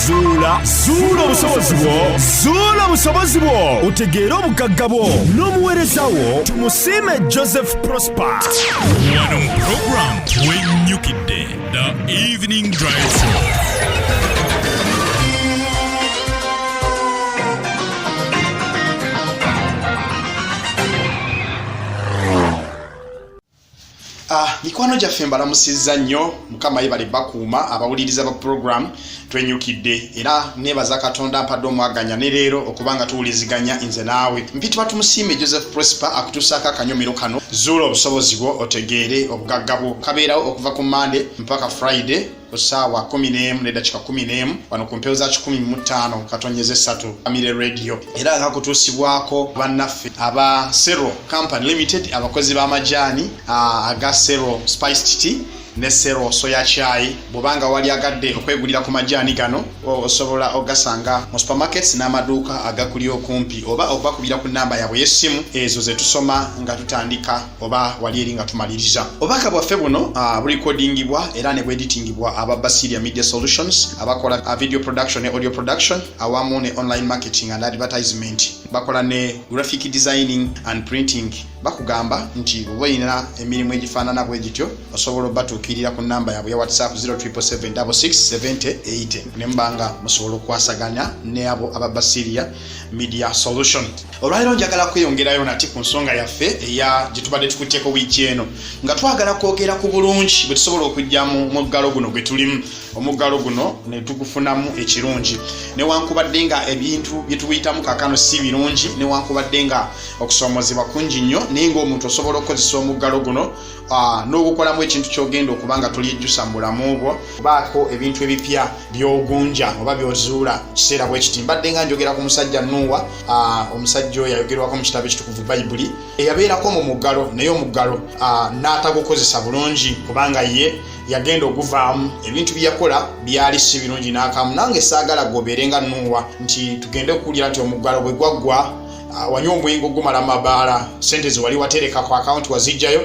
zuula zuula obusobozi bwo zuula obusobozi bwo utegeera obugagga bwo n'omuweereza wo tumusiime joseph prosper wano mu puroguramu wenyukidde the evening drive Ah, mikwano gyaffe mbalamusizza nnyo mukama yebale bakuuma abawuliriza ba puroguramu twenyukidde era nebaza katonda mpadde omwaganya ne leero okuba nga tuwuliziganya nze naawe mpitibwa tumusiime joseph prosper akutuusaako akanyomero kano zuula obusobozi bwo otegeere obugagga bwo kabeerawo okuva ku mande mpaka friday ku ssaawa 11 n'eddakiika 11 wano ku mpewo za 15 katonyeza essatu amire radio era nga kutuusibwako bannaffe aba sero company limited abakozi b'amajaani aga sero spiced tea ne sero soya chai bwobanga wali agadde okwegulira ku majaani gano osobola ogasanga mu supermarkets n'amaduuka agakuli okumpi oba okubakubira ku namba yabwe y'essimu ezo ze tusoma nga tutandika oba wali eri nga tumaliriza obubaka bwaffe buno ah, bulikodingibwa era ne bweditingibwa aba basiria media solutions abakola ah, video production ne audio production awamu ne online marketing and advertisement bakola ne graphic designing and printing bakugamba nti oba olina emirimu egifaanana bwe gityo osobola obatuukirira ku namba yaabwe ya whatsapp 077 ne mubanga musobola okukwasaganya ne abo aba basiria media solution olwaliro njagala kweyongerayo nati ku nsonga yaffe eya gyetubadde tukutteko wiiki eno nga twagala kwogera ku bulungi bwe tusobola okujja mu muggalo guno gwe tulimu omuggalo guno ne tugufunamu ekirungi newankubadde nga ebintu bye tubiyitamu kakano si birungi newankubadde nga okusoomozebwa kungi nnyo naye ngaomuntu osobola okukozesa omuggalo guno Ah, n'okukolamu ekintu kyogenda okuba nga tolyejjusa mu bulamu bwo baako ebintu ebipya byogunja oba byozuula kiseera bwe kiti mbadde nga njogera ku musajja nuuwa ah, omusajja oyo ayogerwako mu kitabo ekitukuvu bayibuli eyabeerako mu muggalo naye omuggalo ah, n'atagukozesa bulungi kubanga ye yagenda okuvaamu ebintu byeyakola byali si birungi n'akamu nange saagala gobeere nga nuuwa nti tugende okuwulira nti omuggalo bwe gwaggwa Ah, wanywa omwenge ogumala mabaala sente zewali watereka ku akawunti wazijjayo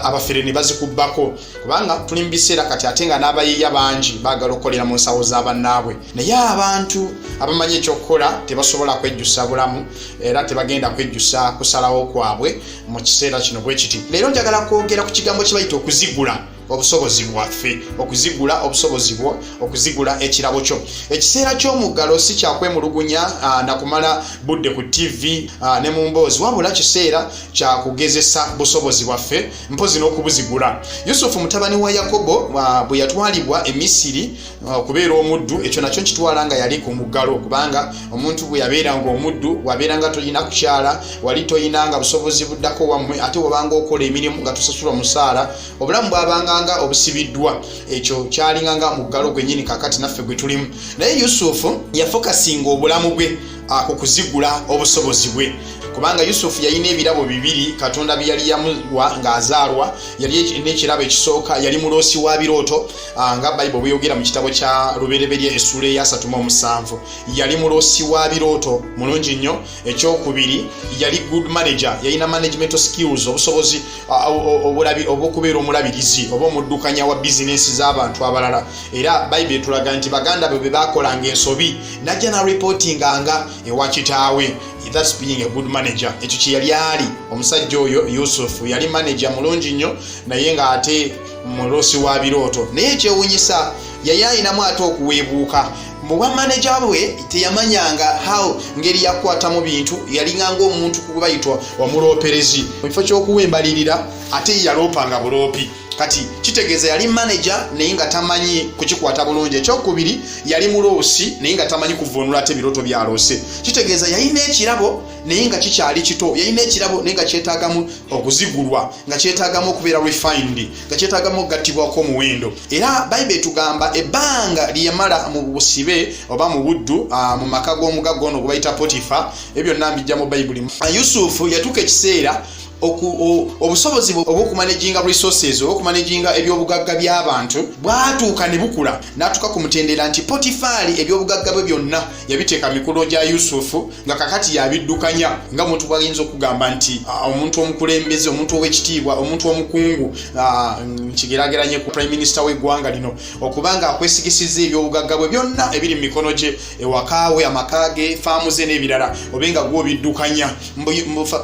abafere ne bazikubbako kubanga tuli mu biseera kati ate nga n'abayiiya bangi baagala okukolera mu nsawo za bannaabwe naye abantu abamanyi ekyokukola tebasobola kwejjusa bulamu era tebagenda kwejjusa kusalawo kwabwe mu kiseera kino bwe kiti leero njagala kwogera ku kigambo kye bayita okuzigula obusobozi bwaffe okuzigula obusobozi bwo okuzigula ekirabo kyo ekiseera ky'omuggalo si kyakwemulugunya ah, nakumala budde ku ttivi ah, ne mu mboozi wabula kiseera kyakugezesa busobozi bwaffe mpozi n'okubuzigula yusufu mutabani wa yakobo ah, bwe yatwalibwa e misiri okubeera omuddu ekyo nakyo nkitwala nga yali ku muggalo kubanga omuntu bwe yabeera nga omuddu wabeera nga tolina kukyala wali toyina nga busobozi buddako wammwe ate wabanga okola emirimu nga tusasula omusaala obulamu bwabanganga obusibiddwa ekyo kyalinganga muggalo gwenyini kakati naffe gwe tulimu naye yusufu yafokasinga obulamu bwe ah, ku kuzigula obusobozi bwe kubanga yusufu yalina ebirabo bibiri katonda byeyali yamuwa ng'azaalwa yali n'ekirabo ekisooka yali muloosi wa birooto ah, nga bayibuli bweyogera mu kitabo kya lubereberye essuula eyasatuma omusanvu yali muloosi wa birooto mulungi nnyo ekyokubiri yali good manager yalina management skills obusobozi obwokubeera omulabirizi oba omuddukanya wa bizinesi z'abantu abalala era bayibuli etulaga nti baganda be bebakolanga ensobi najja na reportinga nga ewa kitaawe thats being a good manager ekyo kyeyali ali omusajja oyo yusufu yali manager mulungi nnyo naye nga ate mulosi wa birooto naye ekyewunyisa yayayinamu ate okuweebuuka mu bwa maneja bwe teyamanyanga how ngeri yakwatamu bintu yalinganga omuntu kubayitwa wamuloperezi mu kifo ky'okuwa embalirira ate yaloopanga buloopi kati kitegeeza yali maneja naye nga tamanyi kukikwata bulungi ekyokubiri yali muloosi naye nga tamanyi kuvunula ate ebiroto byaloose kitegeeza yalina ekirabo naye nga kikyali kito yalina ekirabo naye nga kyetagamu okuzigulwa nga kyetagamu okubeera refined nga kyetagamu okugattibwa kw'omuwendo era bayibuli etugamba ebbanga lyeyamala mu busibe oba mu buddu mu maka g'omugagga ono gwebayita potifa ebyo byonna mbijja mu bayibuli yusufu yatuuka ekiseera obusobozi obwokumanaginga resources obwokumanaginga ebyobugagga by'abantu bwatuuka ne bukula n'atuuka ku mutendera nti potifaali ebyobugagga bwe byonna yabiteeka mikono gya yusufu nga kakati yabiddukanya nga omuntu bwayinza okugamba nti ah, omuntu omukulembeze omuntu owekitiibwa omuntu omukungu ah, nkigerageranye ku prime minister wegwanga lino okuba nga akwesigisiza ebyobugagga bwe byonna ebiri mu mikono gye ewakaawe amaka ge faamu ze n'ebirala obe nga gwobiddukanya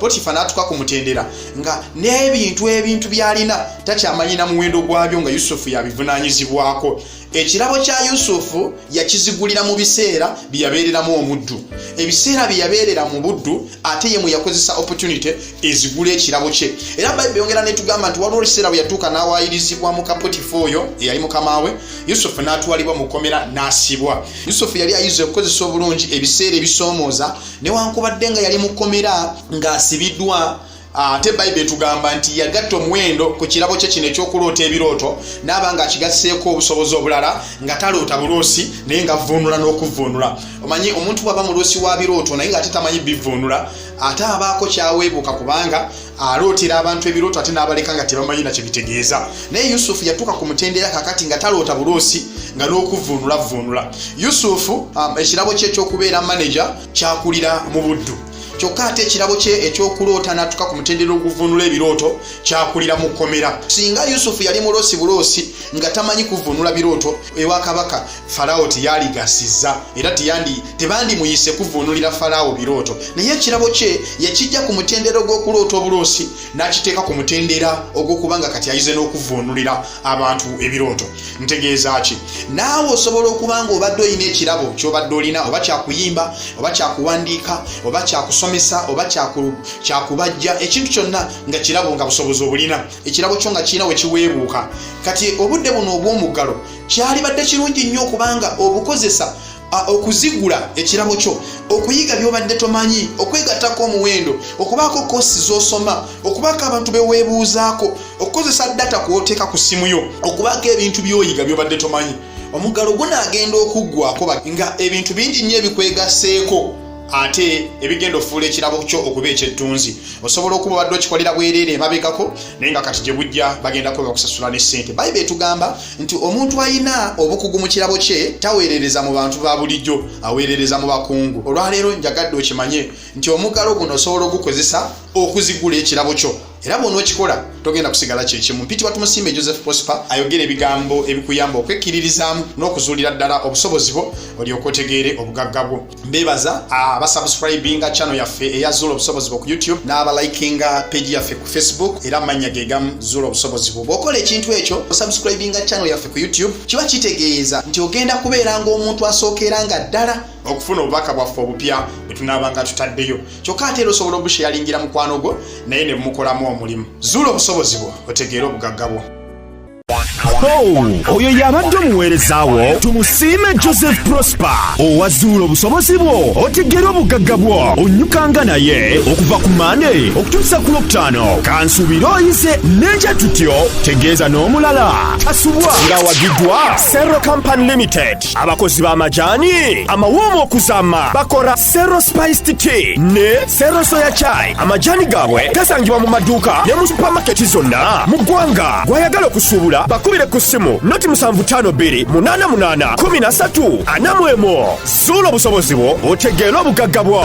potifa n'atuka ku mutendera nga n'ebintu ebintu byalina takyamanyi na muwendo gwabyo nga yusufu yabivunanyizibwako ekirabo kya yusufu yakizigulira mu biseera bye yabeereramu omuddu ebiseera bye yabeerera mu buddu ate ye mwe yakozesa opportunity ezigula ekirabo kye era bayibuli yongera netugamba nti waliwo ekiseera bwe yatuuka n'awaayirizibwa mu kapotifa oyo eyali mukama we yusufu n'atwalibwa mu kkomera n'asibwa yusufu yali ayiza okukozesa obulungi ebiseera ebisoomooza newankubadde nga yali mu kkomera ng'asibiddwa ate bayibuli etugamba nti yagatta omuwendo ku kirabo kye kino ekyokuloota ebirooto naaba nga akigasseeko obusobozi obulala nga taloota buloosi naye nga vuunula n'okuvuunula omanyi omuntu bwaba muloosi wa birooto naye nga ate tamanyi bivuunula ate abaako kyaweebuuka kubanga alootera abantu ebirooto ate n'abaleka nga tebamanyi nakyo bitegeeza naye yusufu yatuuka ku mutendera kakati nga taloota buloosi nga n'okuvuunula vuunula yusufu um, ekirabo kye ekyokubeera maneja kyakulira mu buddu kyokka ate ekirabo kye ekyokuloota natuka ku mutendera oguvunula ebirooto kyakulira mu kkomera singa yusufu yali muloosi buloosi nga tamanyi kuvunula birooto ewa kabaka falawo teyaligasiza era tebandimuyise kuvunulira falawo birooto naye ekirabo kye yakijja ku mutendera ogw'okuloota obuloosi n'akiteeka ku mutendera ogw'okuba nga kati ayize n'okuvvuunulira abantu ebirooto ntegeeza ki naawe osobola okuba nga obadde olina ekirabo kyobadde olina oba kyakuyimba oba kyakuwandiika oba kyakusomesa oba kyakubajja ekintu kyonna nga kirabo nga busobozi obulina ekirabo kyo nga kirina we kiweebuuka kati obudde buno obw'omuggalo kyalibadde kirungi nnyo okubanga obukozesa okuzigula ekirabo kyo okuyiga byobadde tomanyi okwegattako omuwendo okubaako kosi zosoma okubaako abantu beweebuuzaako okukozesa data kwoteeka ku ssimu yo okubaako ebintu byoyiga byobadde tomanyi omuggalo gunaagenda okuggwako nga ebintu bingi nnyo ebikwegaseeko ate ebigenda okufuula ekirabo kyo okuba ekyettunzi osobola okuba obadde okikolera bwereere emabegako naye nga kati gye bujja bagenda kuba bakusasula ne ssente bayibuli etugamba nti omuntu alina obukugu mu kirabo kye taweerereza mu bantu ba bulijjo aweerereza mu bakungu olwaleero njagadde okimanye nti omugalo guno osobola ogukozesa okuzigula ekirabo kyo era bwonookikola togenda kusigala kyekimu mpiti watumusiime joseph prosper ayogera ebigambo ebikuyamba okwekkiririzaamu n'okuzuulira ddala obusobozi bwo olyoka otegeere obugagga bwo mbebaza abasubscribinga ah, channel yaffe eya zuula obusobozi bwo ku youtube n'abalikinga page yaffe ku facebook era amannya ge gamu zuula obusobozi bwo bw'okola ekintu ekyo osubscribinga channel yaffe ku youtube kiba kitegeeza nti ogenda kubeera ng'omuntu asookeera nga ddala okufuna obubaka bwaffe obupya bwe tunaabanga tutaddeyo kyokka ate era osobola obusheyalingira mukwano gwo naye ne bumukolamu omulimu zuula obusobozi bwo otegeere obugagga bwo Oh, oyo yabadde omuweereza wo tumusiime joseph prosper owazuula obusobozi bwo otegere obugagga bwo onyukanga naye okuva ku mande okutuusa ku lwokutaano kansuubire oyize n'ekya tutyo tegeeza n'omulala tasubwa ng'awagiddwa serro company limited abakozi b'amajaani amawoomu okuzaama bakora sero spiced tea ne sero soya chai amajani gaabwe gasangibwa mu maduuka ne mu supamaketi zonna mu ggwanga gw'ayagala okusuubula bakubire ku ssimu noti 752881 anamwemo zuula obusobozi bwo otegeere obugagga bwo